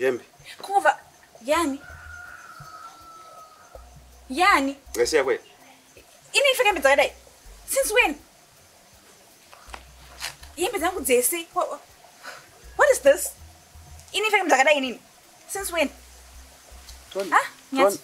hembe kuva yani yani ngasiya kwena ini ndipfeka hembe dzakadai since when hembe dzangu dzese what is this ini ndipfeka hembe dzakadai inini since when Tony, ah, Tony.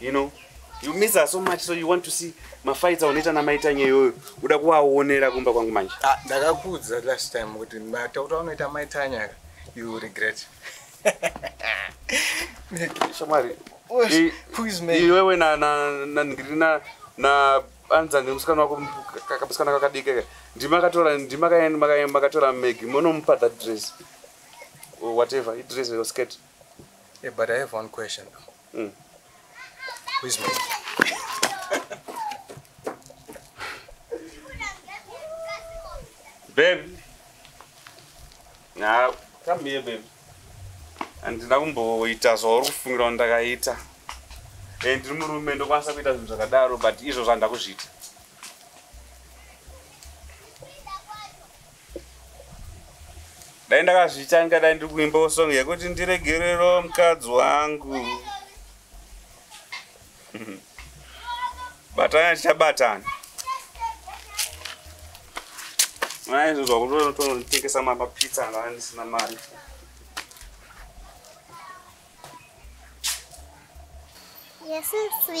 you know you miss her so much so you want to see mafaita unoita namaitanye iyoyo uda kuvaonera kumba kwangu manje ah, ndakakuudza last time kuti matauta unoita maitanya you regret shamwari iwewe ndiri na anza nemusikana wako kamusikana kakadikeka ndimakatora ndimakaenda makatora magi monomupa that dress whatever idress or skirt Hey, but I have one question. Mm. Who is Maggie? babe. Now, come here, babe. handina kumboita zvauri kufungira kuti ndakaita e ndiri murume ndokwanisa kuita zvinhu zvakadaro but izvo zvandakuzviita dai ndakazviita ndingadai ndiri kuimbawo song yekuti ndiregerero mukadzi wangu batana tichabatana maizvozva kutonotonotengesa mapapitsa anga andisina mari Yes, sweetie.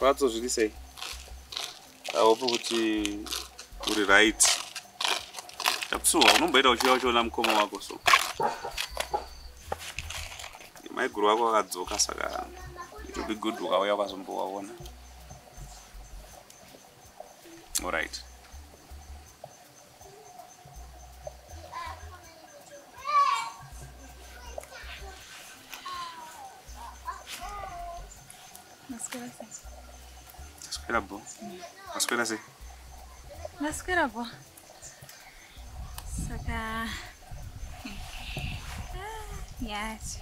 Fatso zviri sei? Aopo kuti uri right. Tapsuwa unomboita uchiuya uchiona mukoma wako so. Maiguru wako akadzoka saka it will be good ukauya ukazombowaona. All right. Masquera bo. Masquera se. Masquera bo. Saka. Yes.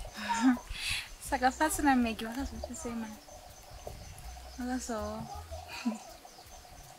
Saka fasi na Maggie vakazoti sema. Vakazo.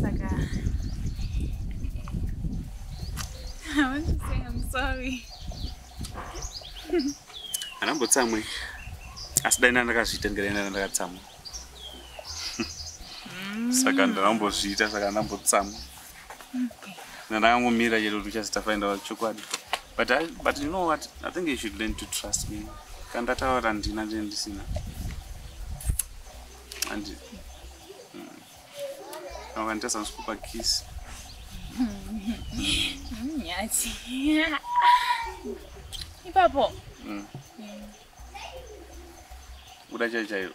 Saka. I want to say I'm sorry. Anambotsamwe. Asi dai ndakazviita ndikaenda ndanga ndakatsamwa. Mm. Saka ndambozviita saka ndambotsamwa. ndakangomira chete kuti uchazita find out chokwadi but I, but you know what i think you should learn to trust me kana ndataura ndina ndine ndisina andi akanditarisa mm. ndisikupa kiss nyati ipapo mm. mm. kuda chai chairo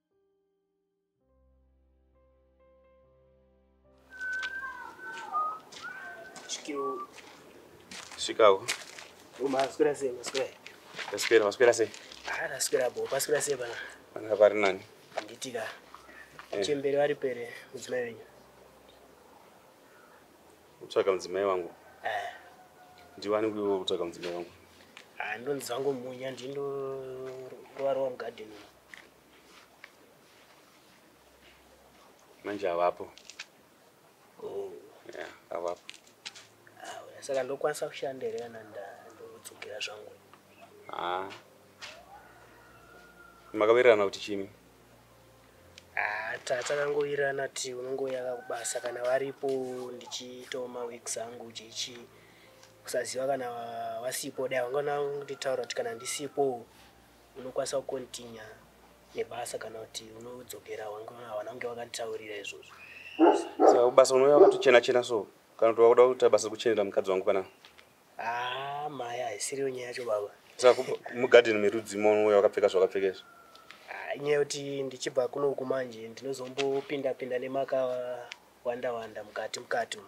Chicago. Uma askura sei maskura. Askura maskura sei. Ana askura bo paskura sei bana. Ana pari nani? Nditika. Eh. Chembere vari pere mudzimai wenyu. Utsvaka mudzimai wangu. Eh. Ndiwani kutsvaka mudzimai wangu. Ah ndonzangu munya ndindo rovarwa mugadeni. manje havapo oh. ya havapo ah, saka ndokwanisa kushanda here kana ndodzokera zvangu ah. makawirirana kuti chini ah, takangowirirana ti unongoyaka kubasa kana varipo ndichiitawo maweeks angu chichi kusaziva kana wasipo dai wangana kunditaura kuti kana ndisipo unokwanisa kukontinya nebasa kana kuti unodzokera hawana kunge wakanditaurira izvozvo saka kubasa unouya wakatochena chena so kana kuti wakuda kuita basa kuchenera mukadzi wangu panaa haa ah, maya haisiriyo nyaya yacho baba saka mugadheni merudzima unouya wakapfeka zvawakapfeka izvo ah, inyaya yekuti ndichibva kunoku manje ndinozombopinda pinda nemaka wanda wanda mukati mukati umu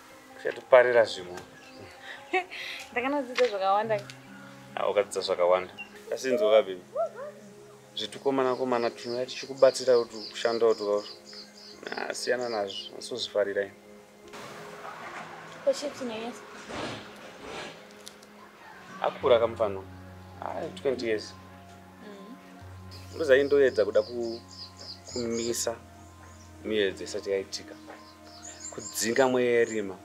uchatiparira zvimwe ndakanodzidza zvakawanda ah, ukadzidza zvakawanda asinzwa kabhemi zvitukomana komana tunoya tichikubatsira kuti kushanda utukaur ah, siyana nazvo asozvifarira ini akura kamufana ai 20 years mm-hmm. ndozai ndoedza kuda kumisa miyedzi isati yaitika kudzinga mweya yerima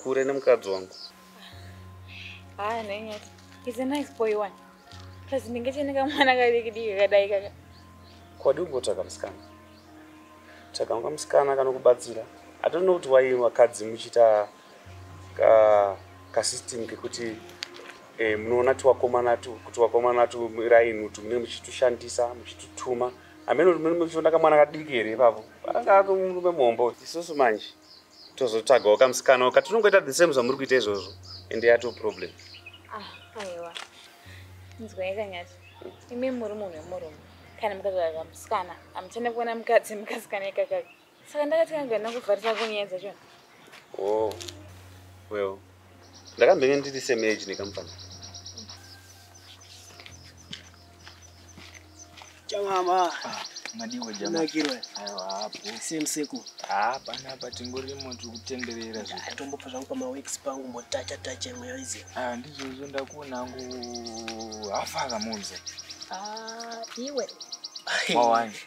kure nemukadzi wangu haa nanyati is a nice boy one plus ndinge chine kamwana kadikidiki kadai kaka kwadi kungotsvaga musikana tsvaga unga musikana kanokubatsira i don't know kuti wai vakadzi muchiita ka kasystem kekuti eh, munoona tiwakomana tu kuti wakomana tu raini kuti munenge muchitushandisa muchitutuma amene kuti muchionda kamwana kadiki here ipapo anga ato murume muhombo isusu manje tozotsvagawo kamusikana oka tinongoita the same zvamuri kuita izvozvo ende yato problem ah, aiwa nzwai kanyati imi muri munhu wemurume kana mukazvaa kamusikana amuchane kuona mukadzi mukasikana ikakaka saka ndakati kangana kuvharisa ko nyaya dzacho o oh, well ndakambenge ndiri same age nekamufana chamama ah, madiwo jamakirwa aiwa hapo same seku hapana ah, apa tingorimo tiri kutenderera zvitombopa zvangu pamaweeks pangu mbotacha tacha imwe yoizi ah, ndizvozvo ndakuona angu hafa akamunze iwe mawani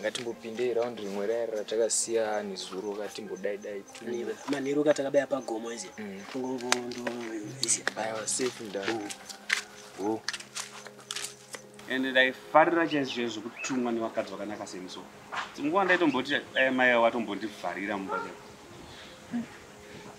ngatimbopindei round rimwe raya ratakasiya nezuro ka timbodai dai manheru ka takabaya pagomo izi mm. tongongondoizi aiwa safe nda oh. Oh. and ndaifarira chaizvo zvekutumwa nevakadzi vakanaka seniso dzimwe nguva ndaitomboti dai maiya watombondivharira mumba chai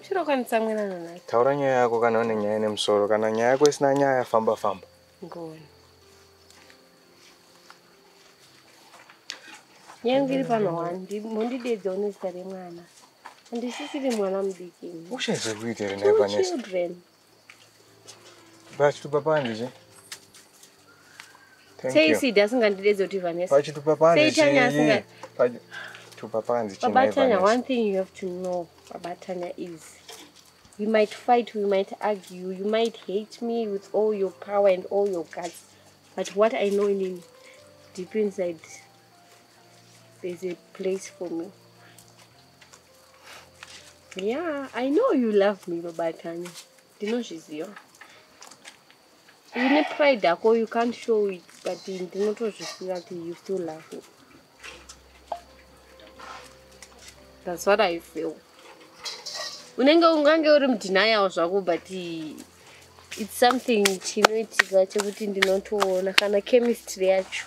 Uchirokwanisa mwena nanaka. Taura nyaya yako kana une nyaya nemusoro kana nyaya yako isina nyaya famba famba. Ngoni. Nyaya ngiri pano wandi mondidedza une zita remwana. Andisisiri mwana mudiki. Uchaizwe kuitira ne Vanessa. Children. Vachitupa panze zve. Thank Sei you. Sidi asingandidedze kuti Vanessa. Vachitupa panze Sei zve. Tanya asinga- Vachi- Tupa panze chimai Baba Tanya, Vanessa. one thing you have to know, Baba Tanya, is we might fight, we might argue, you might hate me with all your power and all your guts, but what I know in deep inside, there's a place for me. Yeah, I know you love me, Baba Tanya. Ndinozviziva. Une pride yako, you can't show it, but ndinotozviziva kuti you still love me. That's what I feel. Unenge ungange uri mudenial zvako but it's something chinoitika chekuti ndinotoona kana chemistry yacho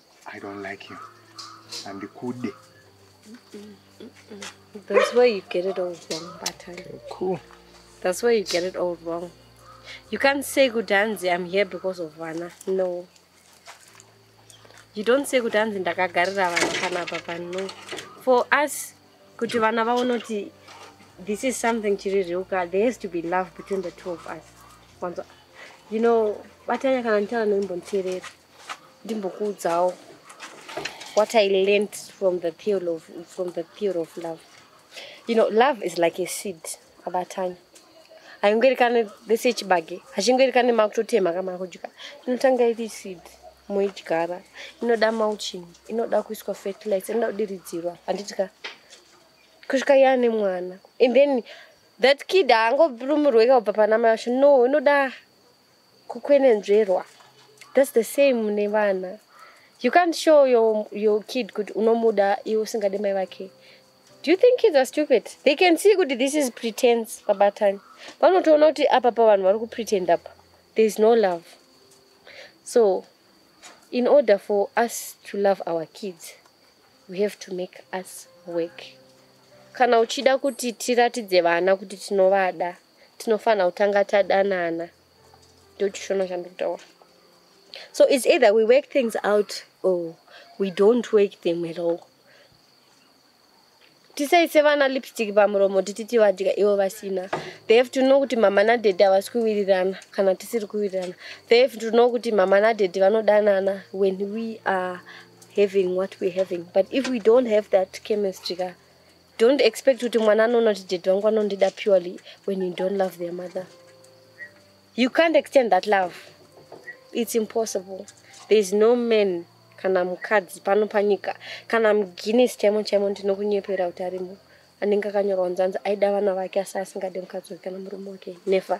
I don't like him. Andikude. That's where you get it all wrong, Batan. Okay, cool. That's where you get it all wrong. You can't say Gudanzi, I'm here because of Vana. No. You don't say Gudanzi, ndakagarira vana kana papa. No. For us, kuti vana vaone kuti this is something chiri real ka there has to be love between the two of us. You know, batanya kana nditaura nembonterera. ndimbokuudzawo what i learned from the pure of, from the pure of love you know love is like a seed abatanya haingoerekane vese chibage hachingoerekane makutotema kamana kudya inotanga iri seed moidyara inoda mauching inoda kuiswa fertilizer inoda kudiridzirwa handiti ka kusvika yaane mwana and then that kid haangorumirweka kubva pana mai vacho no inoda kukwenenzverwa thats the same nevana you can't show your, your kid kuti unomuda iwe usingade mai vake do you think kids are stupid they can see kuti this is pretense pabatani vanotoona kuti apa pa vanhu vari kupretend apa there is no love so in order for us to love our kids we have to make us work kana uchida kuti tiratidze vana kuti tinovada tinofanira kutanga tadanana ndochishona chandiri kutaura so its either we work things out or we don't work them at all tisaise vana lipstick pamuromo titi tivadya ivo vasina they have to know kuti mama nadhedhi havasi kuwirirana kana tisiri kuwirirana they have to know kuti mama nadhedhi vanodanana when we are having what we're having but if we don't have that chemistry ka Don't expect kuti mwana anoona kuti daddy wangu anondida purely when you don't love their mother. You can't extend that love. It's impossible. There is no man kana mukadzi pano panyika kana muguinness chaimo chaimo ndinokunyepera kuti arimo anenge akanyorwa nzanzi aida vana vake asi asingade mukadzi wake kana murume wake never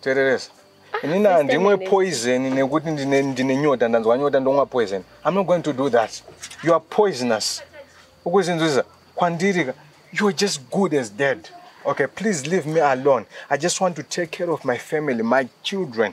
tereresa ah, inini handimwe poison nekuti ndine nyota ndanzwa nyota ndomwa poison i'm not going to do that you are poisonous ukuzinzwisa kwandirika you are just good as dead okay please leave me alone i just want to take care of my family my children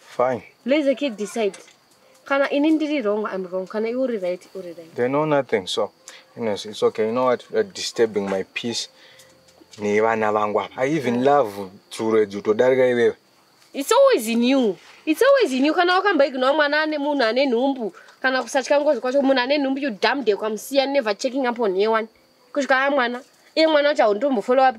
Fine. Let the kid decide. Kana ini ndiri wrong, I'm wrong. Kana iwe uri right, uri right. They know nothing, so anyways, it's okay. You know what? You're disturbing my peace. Ni vana vangu apa. I even love tsuro edzi utodarika iwewe. It's always in you. It's always in you. Kana wakamba ignore mwana ane munhu ane nhumbu. Kana kusatya ngozi kwacho munhu ane nhumbu you damn day kwamusiya never checking up on yewan. Kusvika mwana. Iye mwana wacho haundombofollow up.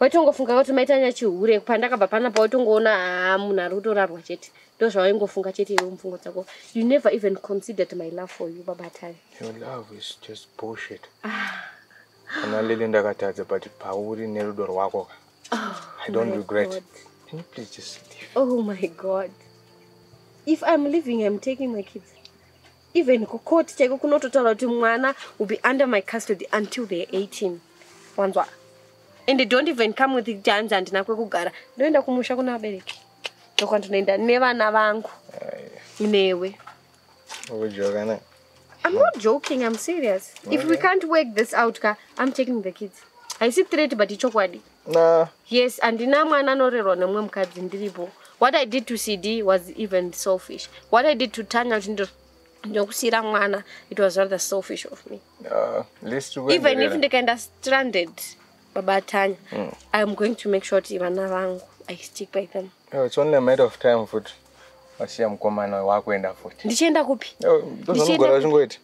waitongofunga kuti maitanya chihure pandakabva panapa waitongoona haa ah, munhu ari kutorarwa chete ndo zvawaingofunga chete iwe mupfungo dzako you never even considered my love for you babatani kana ah. lili ndakatadza but pauri nerudo rwako ka oh, i don't regret God. can you please just leave oh my god if i'm living i'm taking my kids even kucourt chaiko kunototaura kuti mwana will be under my custody until they're 18 wanzwa and they don't even come with kuti hanzi handina kwekugara ndoenda kumusha kuna vabereki ndokwandinoenda nevana vangu newe ukujokana I'm not joking, I'm serious. If we can't work this out, ka, I'm taking the kids. I see threat, but it's chokwadi. Nah. Yes, andina mwana anorerwa nemwe mukadzi ndiripo. What I did to CD was even selfish. What I did to Tanya chindo ndokusira mwana it was rather selfish of me. Uh, least to even if ndikaenda stranded baba Tanya, mm. I'm going to make sure kuti vana vangu I stick by them. Oh, it's only a matter of time futhi. Wasiya mkomana wakuenda futhi. Ndichienda kupi? Oh, Ndichienda kupi?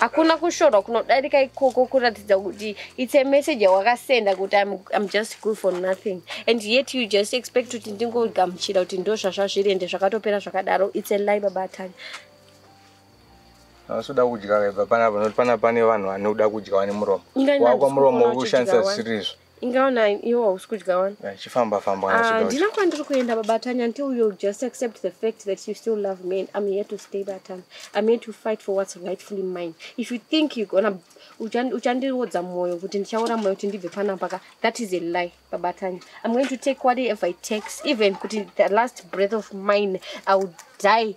hakuna kushorwa kunodarika ikoko kuratidza kuti its a message yawakasenda kuti I'm, i'm just good for nothing and yet you just expect kuti ndingogamuchira kuti ndo zvazvazviri ende zvakatopera zvakadaro its a lie baba atani asoda kudya vebva panapa nokuti pana pane vanhu vanoda kudya vane muromo wakwa muromo uri kushandisa zvisiri izvo inga ona iwo hausi kudya wani eh, chifamba famba ah, handina kwandiri kuenda babatanya until you just accept the fact that you still love me and i'm here to stay batanya i'm here to fight for what's rightfully mine if you think you gonna uchandirodza mwoyo kuti ndichaora mwoyo kuti ndibve panapaka that is a lie babatanya i'm going to take whatever it takes even kuti the last breath of mine i will die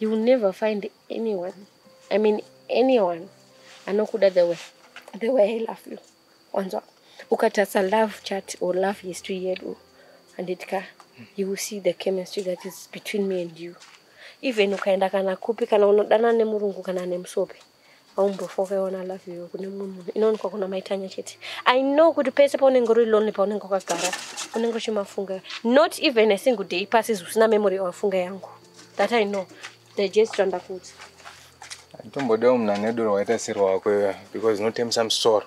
you will never find anyone i mean anyone anokuda the way the way i love you wanzwa ukatarisa love chat or love history yedu handiti ka you will see the chemistry that is between me and you even ukaenda kana kupi kana unodana nemurungu kana nemusope aumbofa ukaiona love you kune mumwe munhu inoonekwa kuna maitanya chete i know kuti pese paunenge uri lonely paunenge wakagara unenge uchimafunga not even a single day pasi zvisina memory awafunga yangu that i know digest randakuti atombodawo munhu ane doro waita siri wako iwe because unotemisa musoro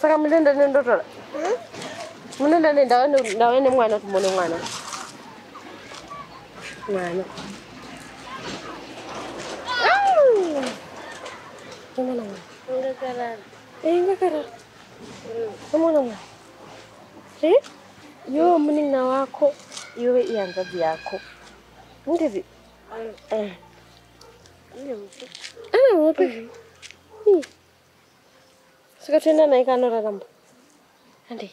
saka munenda ne ndotora hmm? munenda ne ndave nemwana kuti mone mwana mwana Gimana mah? Enggak karar. Eh, enggak karar. Hmm. Kamu nama? Si? Yo, mending nawa aku. Yo, iyan tadi aku. Nanti sih. Eh. Ini apa? Ini apa? Ini. saka toenda naye kaanoraramba andei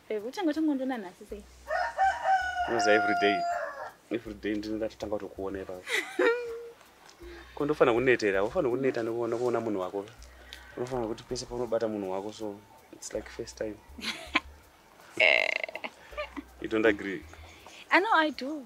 Babe, uchanga uchangondiona nhasi sei? Unoziva every day. Every day ndini ndatotanga kutokuona ipapo. Ko ndofanira kunetera, unofanira kuneta nekuona kuona munhu wako. Unofanira kuti pese paunobata munhu wako so it's like first time. you don't agree? I know I do.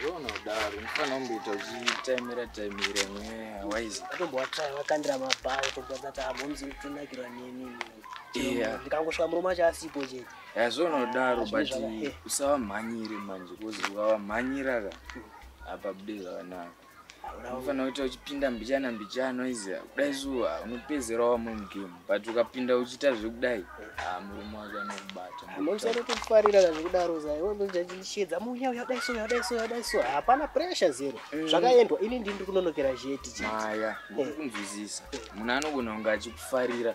zvonodaro ndifana kumboita uchitaimira taimira mweya waizi atombowatsvaya wakandira mabhawa tombozati hamomzi kutonakirwa neni ndikangosvika murume acho asipo chete yazvonodaro but usavamhanyire manje bcause ukavamhanyira ka apa bude zvakanaka unofanira kuita uchipinda mbichana mbichana izi kudai zuva unopedzera wamwe mugame but ukapinda uchiita zvekudai ah, murume wake anokubatausarotofarira zvekudaro zaiwezvachishedza muya uya kudai so uya kudai so uya kudai so hapana pressure zero mm. zvakaendwa ini ndini ndiri kunonokera zheti chimaya eh. kunzwisisa munhu anogona kunge achikufarira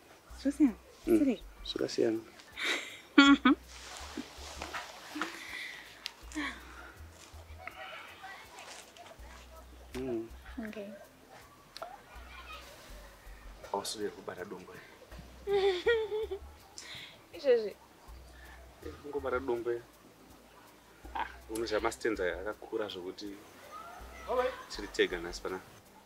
zvasiyana mm. sirei zvakasiyana mm. okay ausiri kubata dongwe izvezvi kungobata dongwe ah, unoziva mastenza akakura zvokuti tiri tega nhasi panapa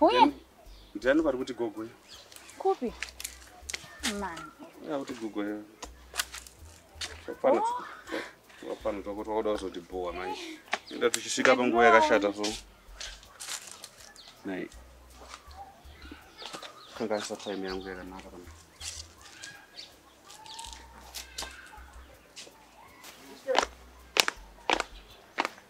Uye? Ndiani vari kuti gogo yo? Kupi? Man. Vari kuti gogo yo. Hapana. Hapana toko twakuda kuzoti bhowa manje. Enda tichisvika panguva yakashata so. Nai. Kangaisa time yangu yakanaka pana.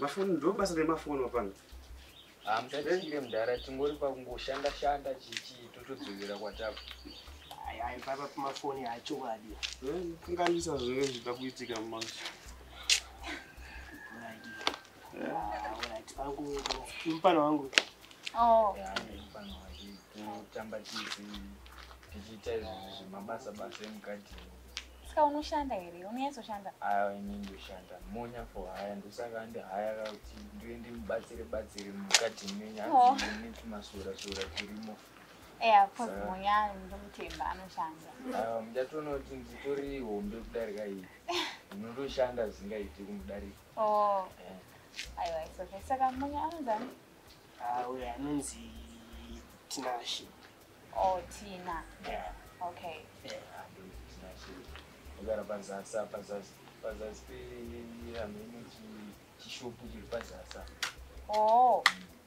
mafoni ndo basa remafoni wapana hamuchachire mudhara tingori pakungoshanda shanda chichii totodzokera kwatapa aipapa pamafoni achokwadi eh, kanganisa zvee zvida kuitika manje Mpano wangu. Oh. Yeah, mpano wangu. Kutamba tizi tichiita zvemabasa basa emukati. Saka unoshanda here? Unonyatsoshandda? Ah, ini ndoshanda. Monya for haya ndosaka andi haya kuti ndiwe ndimubatsire batsire mukati menya oh. ndine tumasora sora turimo. Yeah, of course Monya ndomutemba anoshanda. Ah, mjatoona kuti nditori hombe kudarika iyi. Unotoshanda zvingaiti kumudarika. Oh. Aiwa, it's okay. Saka mbuya anonzani? Ah, uya anonzi Tinashe. Oh, Tina. Yeah. Okay. Yeah. Agara pazasi apa zasi pazasi pe amene chishopu chiri pazasi apa. Oh.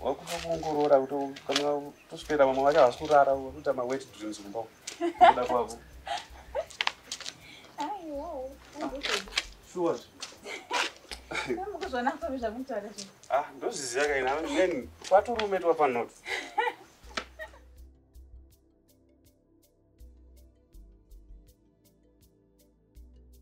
wakuda kuongorora kuti kana kuswera vamwe vacho havasi kurara vakuita mawet dreams kumba kuda kwavo sure ah, ndozviziva kaina then kwaturume twapanoti